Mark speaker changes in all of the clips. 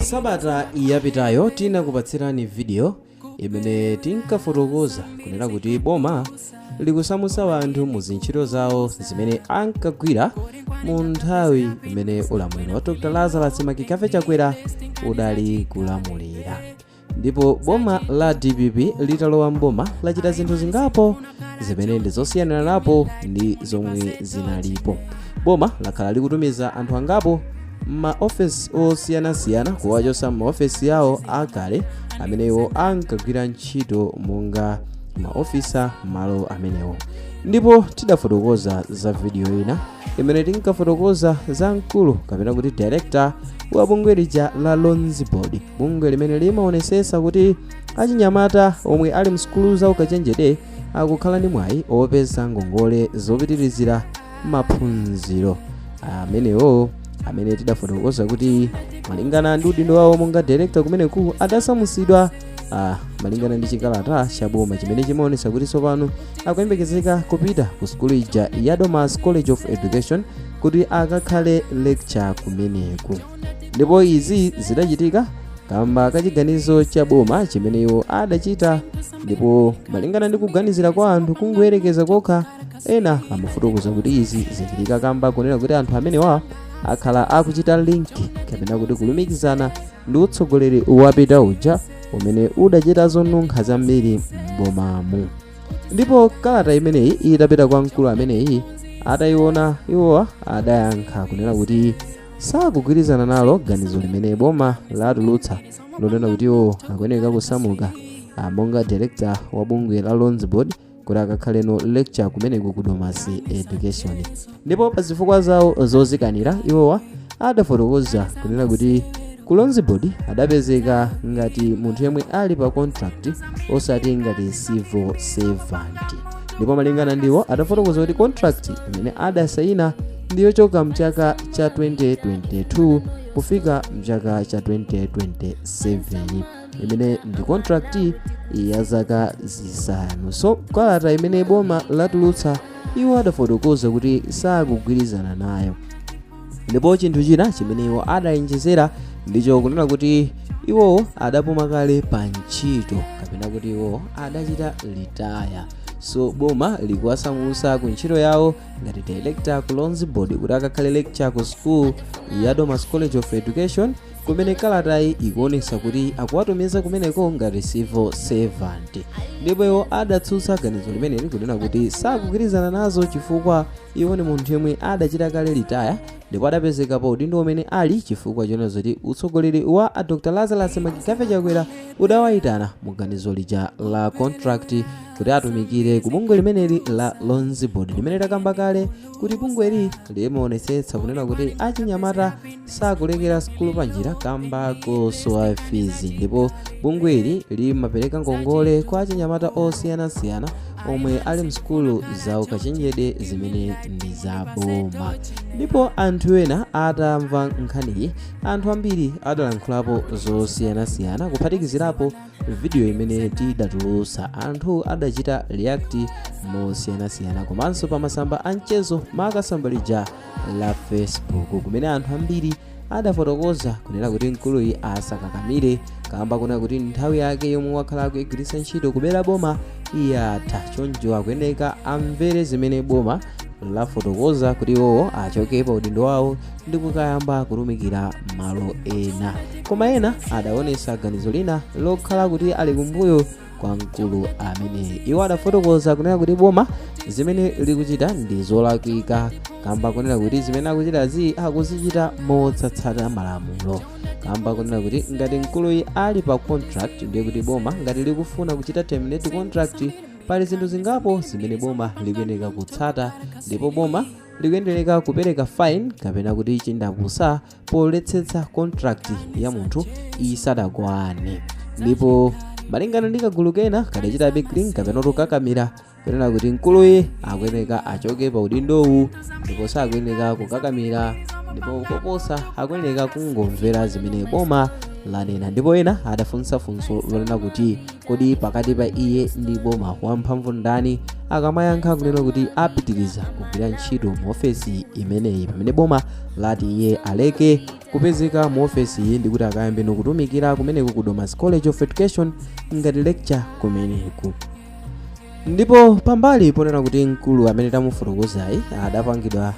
Speaker 1: Sabata yapitayo tinakupatsirani video imene tinkafotokoza kunena kuti boma likusamutsa anthu mu zintchito zawo zimene ankagwira mu nthawi imene ulamuliro wa dr lazarus McCarthy chakwera udali kulamulira ndipo boma la dpp litalowa mboma lachita zinthu zingapo zimene ndi zosiyaniranapo ndi zomwe zinalipo boma lakhala likutumiza anthu angapo m'maofesi osiyanasiyana kuwachotsa m'maofesi awo akale amene iwo ankagwira ntchito monga maofisa m'malo amenewo ndipo tidafotokoza za video ina imene tinkafotokoza za mkulu kapena kuti director wa bungwe lija la loans board bungwe limene limaonesesa kuti achinyamata omwe ali msukulu za ukachenjede akukhala ndi mwayi opeza ngongole zopitirizira maphunziro amenewo amene tidafotokoza kuti malingana ndi udindo wawo monga director kumeneku adasamusidwa ah, malingana ndi chikalata cha boma chimene chimaonetsa kuti tsopano akuyembekezeka kupita ku sukulu ija ya domasi college of education kuti akakhale lecturer kumeneku ndipo izi zidachitika kamba ka chiganizo cha boma chimene iwo adachita ndipo malingana ndi kuganizira kwa anthu kungoyerekeza kokha ena amafotokoza kuti izi zikuchitika kamba kunena kuti anthu amenewa akhala akuchita link kapena kuti kulumikizana ndi utsogoleri wapita uja umene udachita zonunkha zambiri m'bomamu ndipo kalata imeneyi itapita kwa mkulu ameneyi atayiona iwowa adayankha kunena kuti sakugwirizana nalo ganizo limene boma latulutsa lonena kuti iwo akuyeneka kusamuka ah, monga director wa bungwe la loans board kuti akakhaleno lecturer kumeneku ku domasi education ndipo pa zifukwa zawo zozikanira iwowa adafotokoza kunena kuti ku loans board adapezeka ngati munthu yemwe ali pa contract osati ngati civil servant ndipo malingana ndi iwo adafotokoza kuti contract imene adasayina ndiyochoka mchaka cha 2022 kufika mchaka cha 2027 imene ndi contract ya zaka zisanu so kalata imene boma latulutsa iwo adafotokoza kuti sakugwirizana nayo ndipo chinthu china chimene iwo adayenjezera ndicho kunena kuti iwowo adapuma kale pa ntchito kapena kuti iwowo adachita retire so boma likuwasamutsa ku ntchito yawo ngati director ku loans board kuti akakhale lecturer ku school ya domasi college of education kumene kalatayi ikuonesa kuti akuwatumiza kumeneko ngati civil servant ndipo iwo adatsutsa ganizo limeneli kunena kuti sakugwirizana nazo chifukwa iwo ndi munthu yemwe adachita kale litaya ndipo adapezeka pa udindo umene ali chifukwa chonena zoti utsogoleri wa a dr lazarus McCarthy chakwera udawayitana mu ganizo lija la contract kuti atumikire ku bungwe limeneli la loans board limene takamba kale kuti bungweli limaonetsetsa kunena kuti achinyamata sakulekera sukulu panjira kamba kosowa fizi ndipo bungweli limapereka ngongole kwa achinyamata osiyanasiyana omwe ali msukulu za ukachenjede zimene ndi za boma ndipo anthu ena atamva nkhaniyi anthu ambiri adalankhulapo zosiyanasiyana kuphatikizirapo vidiyo imene tidatulutsa anthu adachita react mosiyanasiyana komanso pa masamba a mchezo maka tsamba lija la facebook kumene anthu ambiri adafotokoza kunena kuti mkuluyi asakakamire kamba konena kuti nthawi yake yomwe wakhala akuyigwiritsa ntchito kubera boma yatha choncho akuyeneka amvere zimene boma lafotokoza kuti iwowo achoke pa udindo wawo ndi kukayamba kutumikira malo ena koma ena adaonesa ganizo lina lokhala kuti ali kumbuyo kwa mkulu ameneyi iwo adafotokoza kunena kuti boma zimene likuchita ndi zolakwika kamba konena kuti zimene akuchitazi akuzichita mosatsata malamulo kamba konena kuti ngati mkuluyi ali pa contract ndiye kuti boma ngati likufuna kuchita terminate contract pali zinthu zingapo zimene boma likuyeneka kutsata ndipo boma likuyeneka kupereka fine kapena kuti chindapusa poletsetsa contract ya munthu isadakwane ndipo malingana ndi kagulu kena kadachitabe cling kapena kuti kukakamira kunena kuti mkuluyi akuyeneka achoke pa udindowu ndipo sakuyeneka kukakamira ndipo koposa akuyeneka kungomvera zimene boma lanena ndipo ena adafunsa funso lonena kuti kodi pakati pa iye ndi boma wamphamvu ndani akamayankha kunena kuti apitiriza kugwira ntchito mu ofesi imeneyi pamene boma lati iye aleke kupezeka mu ofesi iyi ndikuti akayambeno kutumikira kumeneko ku domasi college of education ngati lecturer kumeneko ndipo pambali ponena kuti mkulu amene tamufotokozayi adapangidwa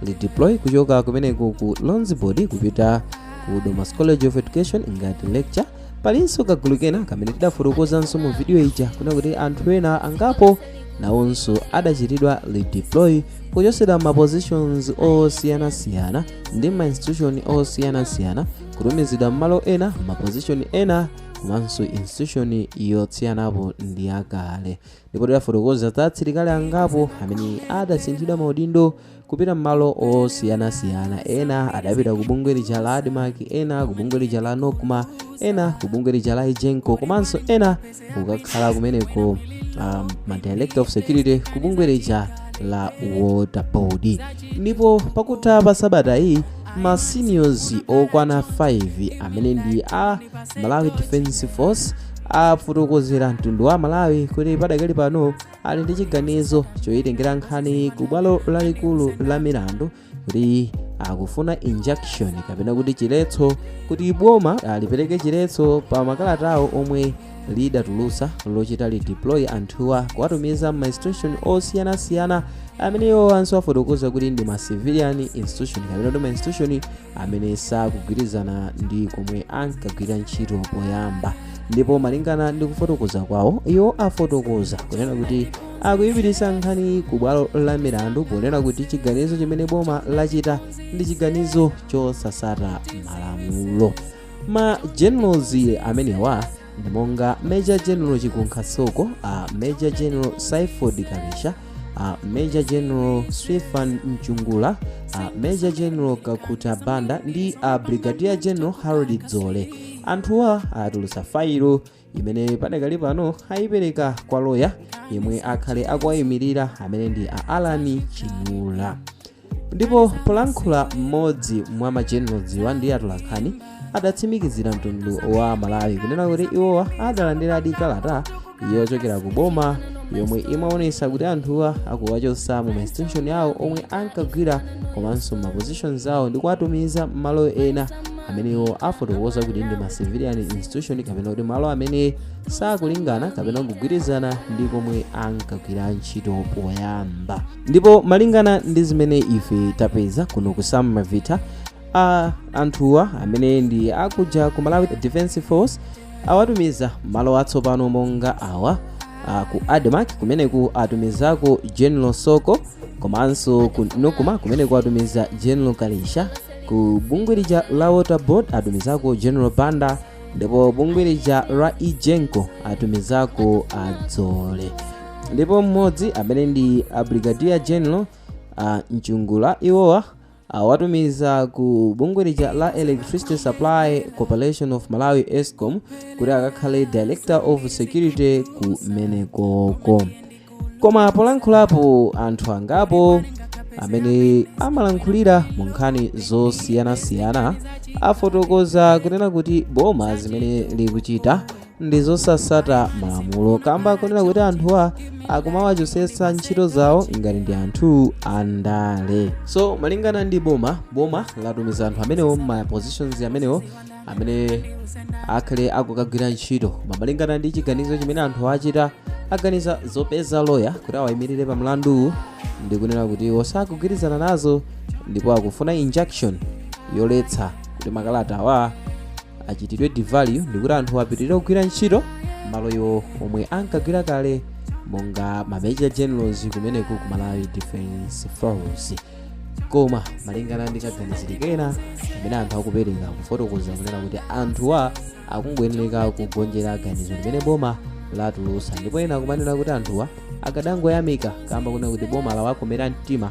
Speaker 1: redeploy kuchoka kumeneko ku loans board kupita ku domasi college of education ngati lecturer palinso kagulu kena kamene tidafotokozanso mu vidiyo ija kunena kuti anthu ena angapo nawonso adachitidwa redeploy kuchotsedwa ma positions osiyanasiyana ndi ma institution osiyanasiyana kutumizidwa m'malo ena ma position ena komanso institution yosiyanapo ndi yakale ndipo tidafotokoza za asilikali angapo amene adasinthidwa maudindo kupita m'malo osiyanasiyana ena adapita ku bungwe lija la admarc ena ku bungwe lija la nocma ena ku bungwe lija la egenco komanso ena kukakhala kumeneko um, ma director of security ku bungwe lija la water board ndipo pakutha pa sabata iyi ma seniors okwana 5 amene ndi a malawi defense force afotokozera mtundu wa malawi kuti padakali pano ali ndi chiganizo choyitengera nkhani ku bwalo lalikulu la milandu kuti akufuna injunction kapena kuti chiletso kuti boma lipereke chiletso pa makalatawo omwe lidatulutsa lochita redeploy anthuwa kuwatumiza m'ma institution osiyanasiyana amene iwo anso afotokoza kuti ndi ma civilian institution kapena kuti ma institution amene sakugwirizana ndi komwe ankagwira ntchito poyamba ndipo malingana ndi kufotokoza kwawo iwo afotokoza kunena kuti akuyipititsa nkhani ku bwalo la milandu ponena kuti chiganizo chimene boma lachita ndi chiganizo chosatsata malamulo ma generals amenewa ndi monga major general chikunkha soko a major general saiford karisha a major general stefan mchungula a major general kakuta banda ndi a brigadier general harold dzole anthuwa atulutsa failo imene padakali pano ayipereka kwa loya yemwe akhale akuwayimirira amene ndi a allan chinyula ndipo polankhula mmodzi mwa ma generals wa ndi atolankhani adatsimikizira mtundu wa malawi kunena kuti iwowa adalandiradi kalata yochokera ku boma yomwe imaonesa kuti anthuwa akuwachotsa mu ma institution awo omwe ankagwira komanso m'ma positions awo ndi kuwatumiza m'malo ena amene iwo afotokoza kuti ndi ma civilian institution kapena kuti malo amene sakulingana kapena kugwirizana ndi komwe ankagwira ntchito poyamba ndipo malingana ndi zimene ife tapeza kuno ku samavita a anthuwa amene ndi akuja ku malawi defense force awatumiza malo atsopano monga awa a, ku admarc kumeneku atumizako general soko komanso ku nocma kumeneku atumiza general kalisha ku bungwe lija la water board atumizako general banda ndipo bungwe lija la egenco atumizako a dzoole ndipo mmodzi amene ndi a brigadier general a mchungula iwowa awatumiza ku bungwe lija la electricity supply corporation of malawi escom kuti akakhale director of security kumenekoko koma polankhulapo anthu angapo amene amalankhulira mu nkhani zosiyanasiyana afotokoza kunena kuti boma zimene likuchita ndi zosatsata malamulo kamba kunena kuti anthuwa akumawachotsetsa ntchito zawo ngati ndi anthu andale so malingana ndi boma boma latumiza anthu amenewo m'ma positions amenewo amene akhale akukagwira ntchito koma malingana ndi chiganizo chimene anthu achita aganiza zopeza lawyer kuti awayimirire pa mlanduwu ndi kunena kuti iwo sakugwirizana nazo ndipo akufuna injunction yoletsa kuti makalata awa achitidwe review ndi kuti anthu apitirire kugwira ntchito malo iwo omwe ankagwira kale monga ma major generals kumeneko ku malawi defense force koma malingana ndi kaganizidwe kena amene anthu akupereka kufotokoza kunena kuti anthuwa akungoyenera kugonjera ganizo limene boma latulutsa ndipo ena akumanena kuti anthuwa akadangoyamika kamba kunena kuti boma lawakomera mtima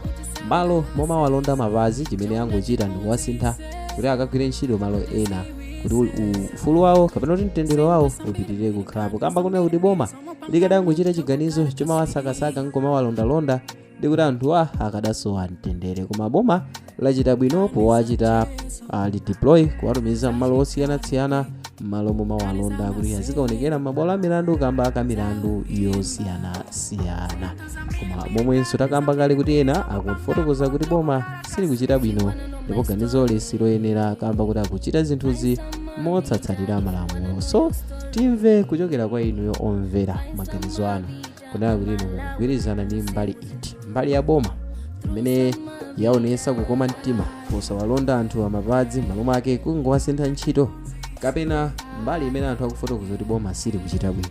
Speaker 1: malo momawalonda mmapazi chimene angochita ndi kuwasintha kuti akagwire ntchito malo ena kuti u- u- ufulu wawo kapena kuti mtendere wawo upitirire kukhalapo kamba kunena kuti boma likadangochita chiganizo chomawasakasaka nkomawalondalonda ndikuti anthuwa akadasowa mtendere koma boma lachita bwino powachita uh, redeploy kuwatumiza mmalo osiyanasiyana mmalo momawalonda kuti azikaonekera mmabwalo a milandu kamba ka milandu yosiyanasiyana koma momwenso takamba kale kuti ena akufotokoza kuti boma silikuchita bwino ndipo ganizoli siloyenera kamba kuti akuchita zinthuzi mosatsatira malamulo so timve kuchokera kwa inuyo omvera maganizo anu kunena kuti inu mukugwirizana ndi mbali iti mbali ya boma imene yaonesa kukoma mtima posawalonda anthu mmapazi mmalo mwake kungowasintha ntchito kapena mbali imene anthu akufotokoza kuti boma sili kuchita bwino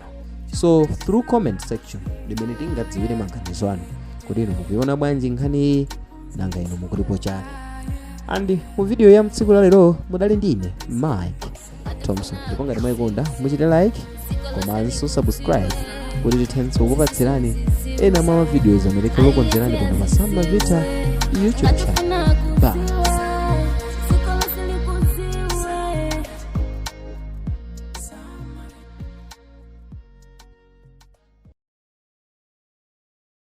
Speaker 1: so through comment section limene tingadziwire maganizo anu kodi inu mukuiona bwanji nkhani iyi nanga inu mukutipo chani and mu video ya tsiku lalero mudali ndi ine mike thompson ndipo ngati mwayikonda muchite like komanso subscribe kuti tithenso kukupatsirani ena mwa ma videos amene tikukonzerani pano pa samba vita youtube channel bye